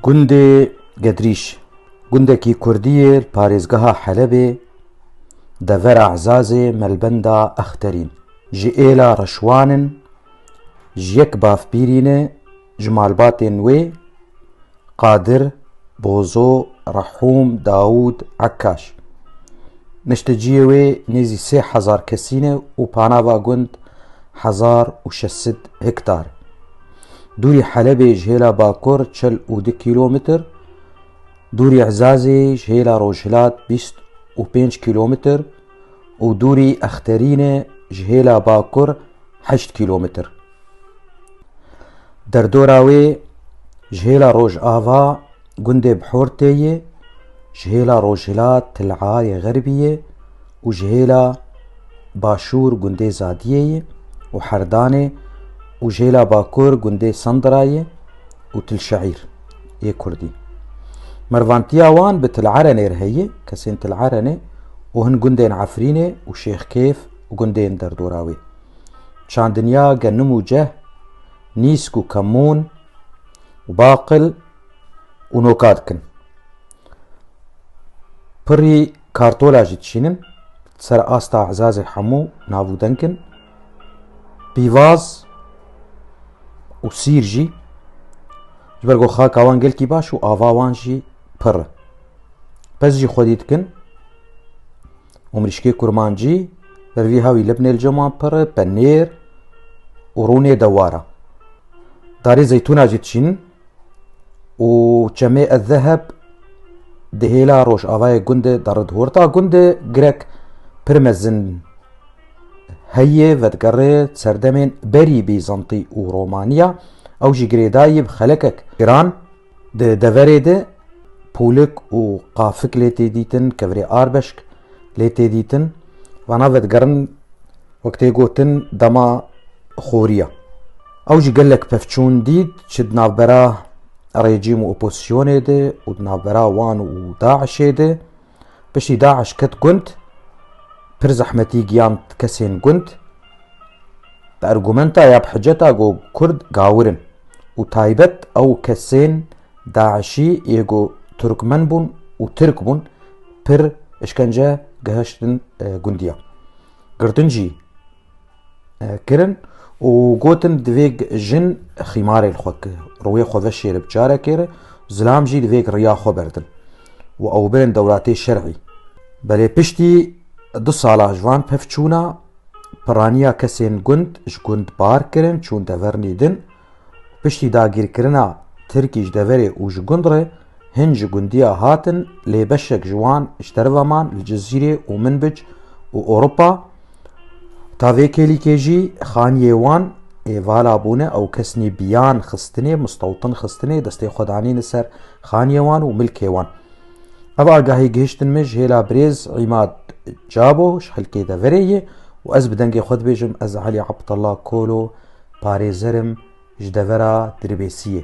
Gundê Gedrîş, gundekî kurdî yê li parêzgeha Helebê, devera Ezazê melbenda Exterîn. Ji êla reşwan in, ji yek bavpîrî ne ji malbatên wê, Qadir, Bozo, Rehûm, Dawûd, Ekkaş. Nişteciyê wê nêzî sê hezar kesî ne û panava gund hezar û şeş sed hektar e. Dûrî Helebê ji hêla bakur çil û du kîlometr, dûrî Ezazê ji hêla rojhilat bîst û pênc kîlometr û dûrî Exterînê ji hêla bakur heşt kîlometr. Derdora wê ji hêla rojava gundê Bihortê yê, ji hêla rojhilat Tileyê Xerbî yê û ji hêla başûr gundê Zadiyê ye û Herdanê û ji hêla bakur gundê Sandira ye û Tilşeîr yê Kurdî. Mervantiya wan bi Tilerenê re heye, kesên Tilerenê û hin gundên Efrînê û Şêxkêf û gundên derdora wê. Çandinya Genim û Ceh, Nîsk û Kemûn û Baqil û Noka dikin. Pirî Kartola jî dişînin, ser asta ezazê hemû nav û denk in. Pîvaz û sîr jî ji ber ku xaka wan gelkî baş û ava wan jî pir e. Pez jî xwedî dikin û mirîşkê kurmancî ber vî hawî libnê li cem wan pir e, penêr û rûnê dewar e. Darê zeytûna jî dişînin, û çemê ez zeheb di hêla rojavayê gundê derid horta gundê girek pir mezin heyê vedgerê serdemên berî bîzantî û romaniya ew jî girêdayî bi xelekek giran di deverê de pûlik û qafik lê tê dîtin kevirê arbeşk lê tê dîtin vana vedgerin wek tê gotin dema xoriya Ew jî gelek pevçûn dît çi di navbera rejîm û opozîsyonê de û di navbera wan û DAIŞê de. Piştî DAIŞ ket gund, pir zehmetî giyand kesên gund. Bi ergûmenta ya bi hiceta go kurd gawir in û taybet ew kesên DAIŞî yê go turkmen bûn û tirk bûn pir îşkence gihiştin gundiya. Girtin jî kirin û gotin divê jin xîmarê li xwe ki rûyê xwe ve şêri bi carekê re zilam jî divê riya xwe berdin û ew birin dewlatê şerî. Belê piştî du sala ji van pevçûna piraniya kesên gund ji gund bar kirin çûn dever nîdin. Piştî dagîrkirina Tirkî ji deverê û ji gund re hin ji gundiya hatin lê beşek ji wan ji deriva man li Cizîrê û Minbic û Ewropa. Ta vê kêlîkê jî xaniyê wan ê vala bûne ew kesnî biyan xistinê, mistewtin xistinê, destê xwe danîne ser xaniyê wan û milkê wan. Ev agahî gihiştin min ji hêla birêz Îmad Cabo ji xelkê deverê yê û ez bi dengê xwe dibêjim ez Elî Abdullah Kolo parêzer im ji devera Dirbêsiyê.